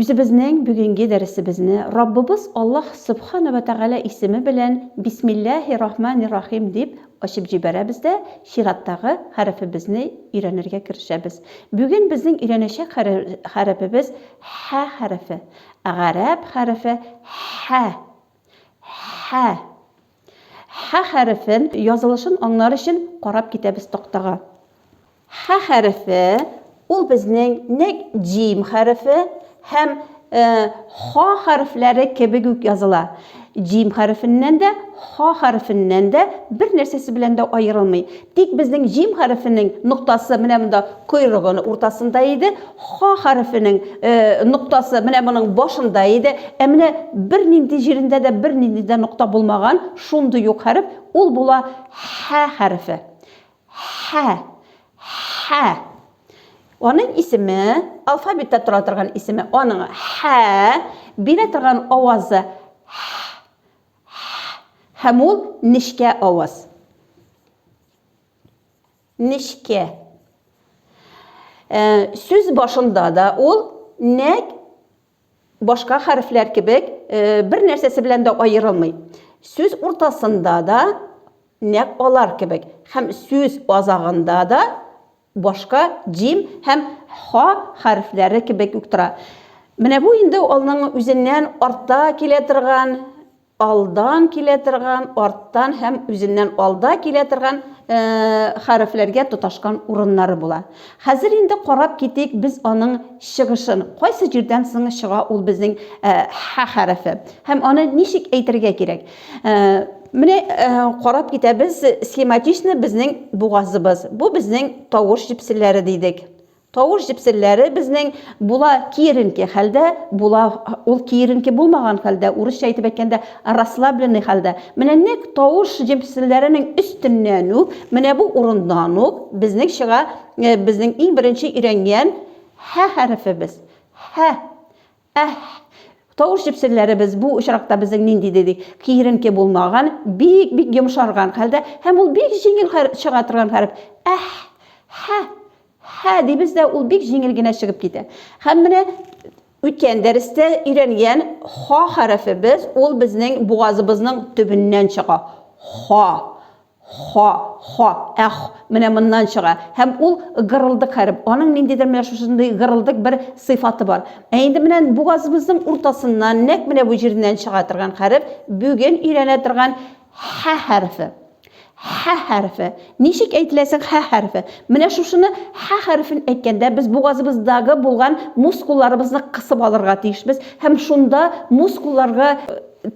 Үзебезнең бүгенге дәресебезне Раббыбыз Аллаһ Сөбхана вә Тәгалә исеме белән Бисмилләһи рахмани рахим дип ачып җибәрәбез дә чираттагы хәрефебезне өйрәнергә керешәбез. Бүген безнең өйрәнәчәк хәрефебез Һә хәрефе. Гарәп хәрефе Һә. Һә. Хә хәрефен язылышын аңлар өчен карап китәбез тактага. Хә хәрефе ул безнең нәк җим хәрефе һәм э, ха хәрефләре кебек үк языла. Җим хәрефеннән дә, ха хәрефеннән дә бер нәрсәсе белән дә аерылмый. Тик безнең җим хәрефенең ноктасы менә монда койрыгын уртасында иде, ха хәрефенең ноктасы менә моның башында иде. Ә менә бер нинди җирендә дә бер нинди дә нокта булмаган, шундый юк хәреф, ул була ха хәрефе. Ха. Ха. Аның исеме, алфавитта тора торган исеме, аның ха, бирә торган авазы х. Һ һәм ул нечкә аваз. Нечкә. Э, сүз башында да ул нәк башка хәрефләр кебек э, бер нәрсәсе белән дә аерылмый. Сүз уртасында да нәк алар кебек һәм сүз азагында да башка җим һәм ха хәрефләре кебек үк тора. Менә бу инде алның үзеннән артта килә торган, алдан килә торган, арттан һәм үзеннән алда килә торган э, хәрефләргә тоташкан урыннары була. Хәзер инде карап китик без аның чыгышын. Кайсы җирдән соң чыга ул безнең э, ха хәрефе? Һәм аны ничек әйтергә кирәк? Менә карап китәбез, схематично безнең бугазыбыз. Бу безнең тавыш җепселләре дидек. Тавыш җепселләре безнең була киеренке хәлдә, була ул киеренке булмаган хәлдә, урысча әйтеп әйткәндә, расслабленный хәлдә. Менә нәкъ тавыш җепселләренең өстеннән үк, менә бу урыннан ук безнең чыга, безнең иң беренче өйрәнгән һә хәрефебез. Һә. Әһ! Тавыш җепсеннәребез бу очракта безнең нинди диде? Киеренке булмаган, бик-бик йомшарган хәлдә һәм ул бик җиңел чыга торган хәреф. Әһ! Һә! Һә! дибез дә, ул бик җиңел генә чыгып китә. Һәм менә үткән дәрестә өйрәнгән ха хәрефебез, ул безнең бугазыбызның төбеннән чыга. Ха! Ха, ха, әх, менә моннан чыга. Һәм ул гырылдык хәреф. Аның ниндидер менә шушындый гырылдык бер сыйфаты бар. Ә инде менә бугазыбызның уртасыннан, нәкъ менә бу җиреннән чыга торган хәреф, бүген өйрәнә торган һә хәрефе. Һә хәрефе. Ничек әйтелә соң һә хәрефе? Менә шушыны һә хәрефен әйткәндә, без бугазыбыздагы булган мускулларыбызны кысып алырга тиешбез һәм шунда мускулларга,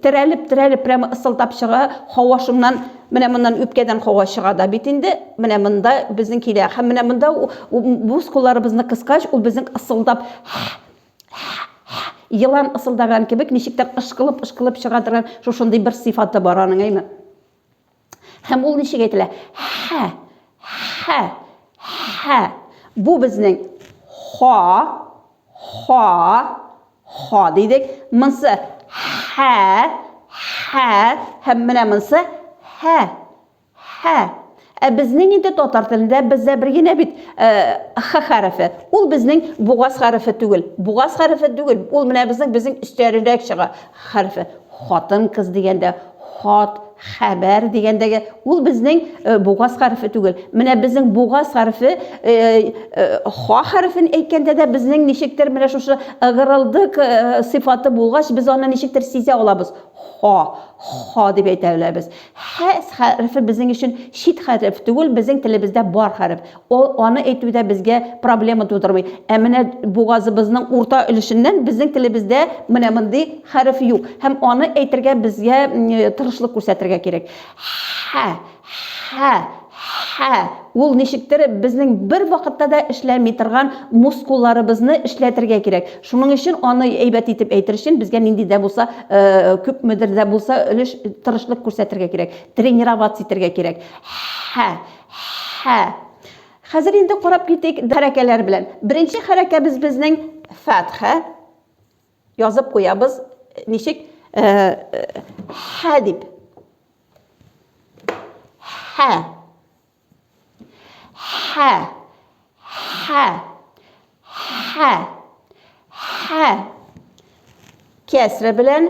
терәлеп, терәлеп, прямо ысылдап чыга, һава шуннан Менә моннан үпкәдән һава чыга да бит инде. Менә монда безнең килә. Һәм менә монда буз кулларыбызны кыскач, ул безнең ысылдап елан ысылдаган кебек ничектер ышкылып-ышкылып чыга торган шушындый бер сыйфаты бар аның, әйме? Һәм ул ничек әйтелә? Хә, хә, хә. Бу безнең ха, ха, ха дидек. Монсы хә, хә. Һәм менә монсы хә, хә. Ә безнең инде татар телендә бездә бер генә бит х хәрефе. Ул безнең бугаз хәрефе түгел. Бугаз хәрефе түгел. Ул менә безнең безнең өстәрерәк чыга хәрефе. Хатын-кыз дигәндә хат Хәбәр дигәндәге ул безнең э, бугаз хәрефе түгел. Менә безнең бугаз хәрефе э, э, ха хәрефен әйткәндә дә безнең ничектер менә шушы ыгырылдык сыйфаты булгач, без аны ничектер сизә алабыз. Ха, ха дип әйтә алабыз. Хә хәрефе безнең өчен чит хәреф түгел, безнең телебездә бар хәреф. Ул аны әйтү дә безгә проблема тудырмый. Ә менә бугазыбызның урта өлешеннән безнең телебездә менә мондый хәреф юк. Һәм аны әйтергә безгә тырышлык күрсәтергә кирәк. Хә, хә, хә. Ул ничектер безнең бер вакытта да эшләми торган мускулларыбызны эшләтергә кирәк. Шуның өчен аны әйбәт итеп әйтер өчен безгә нинди дә булса, күпмедер дә булса өлеш тырышлык күрсәтергә кирәк. Тренироваться итәргә кирәк. Хә, Хә. Хәзер инде карап китик хәрәкәләр белән. Беренче хәрәкәбез безнең фәтхә. Язып куябыз. Ничек? Хә дип. Хә. Хә. Хә. Хә. Хә. Кәсрә белән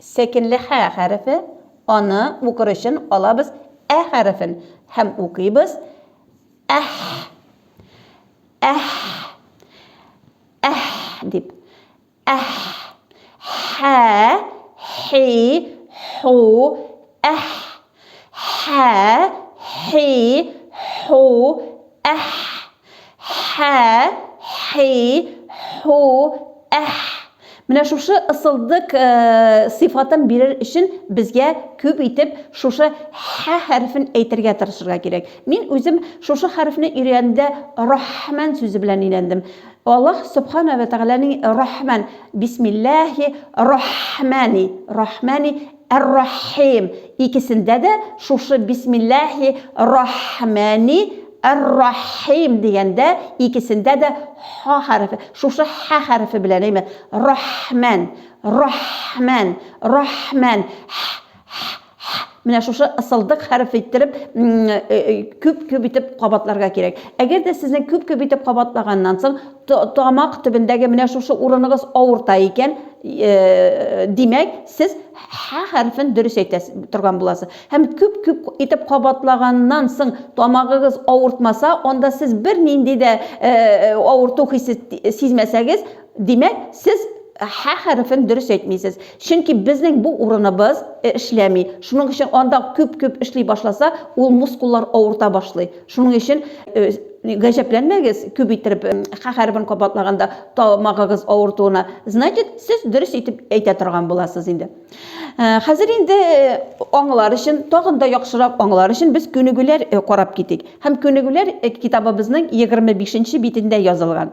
Сәкенле хә хәрефе, аны укыр өчен алабыз ә хәрефен һәм укыйбыз әх, әх, әх дип. Әх, хә, хи, ху, әх. Һә, һи, һу, әһ. Һә, һи, һу, әһ. Менә шушы ысылдык э, сыйфатын бирер өчен безгә күп итеп шушы һә хәрефен әйтергә тырышырга кирәк. Мин үзем шушы хәрефне өйрәнгәндә Рахман сүзе белән өйрәндем. Аллаһ Субхана ва Тәгаләнең Рахман, Бисмиллахи Рахмани, Рахмани Әр-Рахим, икесендә дә шушы бисмилләһи рахмәни әр-рахим дигәндә икесендә дә ха хәрефе, шушы хә хәрефе белән, әйме, рахмән, рахмән, рахмән, һә, һә, һә, менә шушы ысылдык хәрефе иттереп күп-күп итеп кабатларга кирәк. Әгәр дә сезнең күп-күп итеп кабатлаганнан соң, Тамак төбендәге менә шушы урыныгыз авырта икән, димәк, сез һә хәрефен дөрес әйтә торган буласыз. Һәм күп-күп итеп кабатлаганнан соң тамагыгыз авыртмаса, анда сез бернинди дә авырту хисе сизмәсәгез, димәк, сез һә хәрефен дөрес әйтмисез. Чөнки безнең бу урыныбыз эшләми. Шуның өчен анда күп-күп эшли башласа, ул мускуллар авырта башлый. Шуның өчен гаҗәпләнмәгез, күп иттереп х хәрефен кабатлаганда тамагыгыз авыртуына. Значит, сез дөрес итеп әйтә торган буласыз инде. Хәзер инде аңлар өчен, тагын да яхшырак аңлар өчен без күнегүләр карап китик. Һәм күнегүләр китабыбызның 25 нче битендә язылган.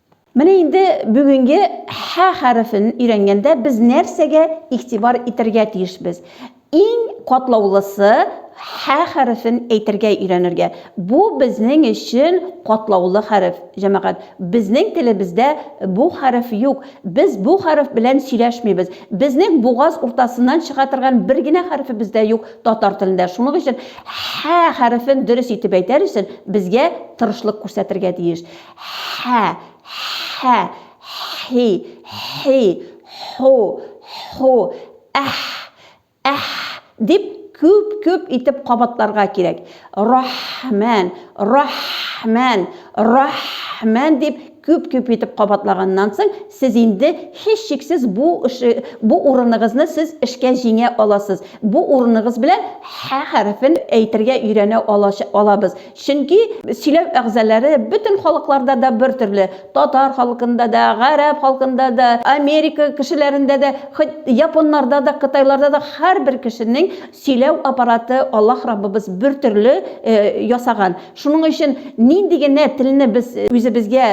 Менә инде бүгенге һә хәрефен өйрәнгәндә без нәрсәгә игътибар итәргә тиешбез? Иң катлаулысы һә хәрефен әйтергә өйрәнергә. Бу безнең өчен катлаулы хәреф, җәмәгать. Безнең телебездә бу хәреф юк. Без бу хәреф белән сөйләшмибез. Безнең бугаз уртасыннан чыга торган бер генә хәрефебез дә юк татар телендә. Шуның өчен һә хәрефен дөрес итеп әйтәр өчен безгә тырышлык күрсәтергә тиеш. Һә, һә, һи, һи, һу, һу, әһ, әһ, дип күп-күп итеп кабатларга кирәк. Рахмән, рахмән, рахмән, дип күп-күп итеп кабатлаганнан соң, сез инде һичшиксез бу эше, бу урыныгызны сез эшкә җиңә аласыз. Бу урыныгыз белән һә хәрефен әйтергә өйрәнә алача, алабыз. Чөнки сөйләү әгъзалары бөтен халыкларда да бер төрле, татар халкында да, гарәп халкында да, Америка кешеләрендә дә, хоть японнарда да, кытайларда да һәрбер кешенең сөйләү аппараты Аллаһ Раббыбыз бер төрле ясаган. Шуның өчен нинди генә телне без үзебезгә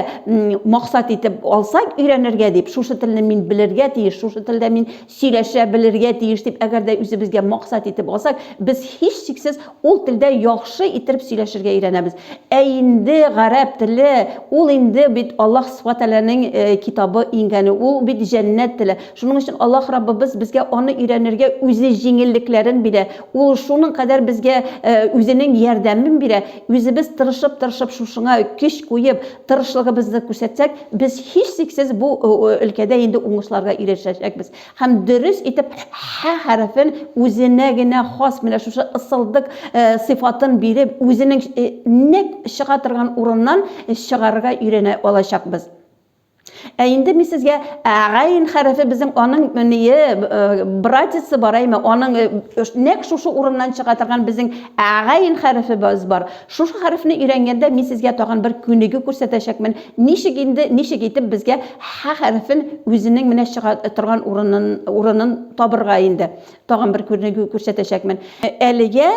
максат итеп алсак, өйрәнергә дип, шушы телне мин белергә тиеш, шушы телдә мин сөйләшә белергә тиеш дип әгәр дә үзебезгә максат итеп алсак, без һичшиксез ул телдә яхшы иттереп сөйләшергә өйрәнәбез. Ә инде гарәп теле, ул инде бит Аллаһ Сүбхәнә Тәгаләнең китабы иңгәне, ул бит җәннәт теле. Шуның өчен Аллаһ Раббыбыз безгә аны өйрәнергә үзе җиңеллекләрен бирә, Ул шуның кадәр безгә үзенең ярдәмен бирә, үзебез тырышып-тырышып шушыңа көч куеп, тырышлыгыбызны күрсәтсәк, без һичшиксез бу өлкәдә инде уңышларга ирешәчәкбез һәм дөрес итеп һә хәрефен үзенә генә хас менә шушы ысылдык сыйфатын биреп, үзенең нәкъ чыга торган урыннан чыгарырга өйрәнә алачакбыз. Ә инде мин сезгә әгәйн хәрефе безнең аның мөние, братисы бар әйме, аның нәк шушы урыннан чыга торган безнең әгәйн хәрефе бар. Шушы хәрефне өйрәнгәндә мин сезгә тагын бер күнегү күрсәтәчәкмен, ничек инде, ничек итеп безгә һә хәрефен үзенең менә чыга торган урынын, урынын табырга инде. Тагын бер күренегү күрсәтәчәкмен. Әлегә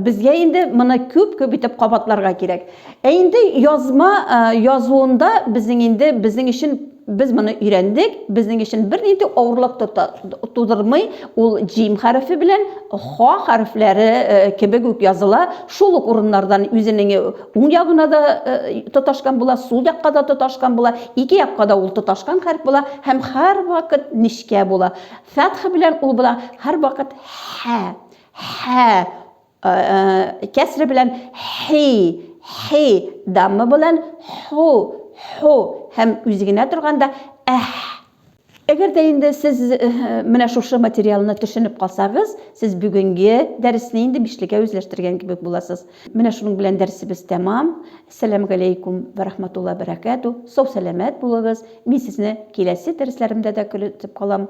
безгә инде моны күп күп итеп кабатларга кирәк. Ә инде язма язуында безнең инде безнең өчен без моны өйрәндек, безнең өчен бернинди авырлык тудырмый, ул җим хәрефе белән ха хәрефләре кебек үк языла, шул ук урыннардан үзенең уң ягына да тоташкан була, сул якка да тоташкан була, ике якка да ул тоташкан хәреф була һәм һәрвакыт нечкә була. Фәтхе белән ул була һәрвакыт хә, хә, кәсре белән хи, хи, дамма белән ху, ху һәм үзе генә торганда әх. Әгәр дә инде сез менә шушы материалны төшенеп калсагыз, сез бүгенге дәресне инде бишлегә үзләштергән кебек буласыз. Менә шуның белән дәресебез тәмам. Сәлам галәйкүм вә рахматулла бәрәкәтү, сау сәламәт булыгыз, мин сезне киләсе дәресләремдә дә көтеп калам.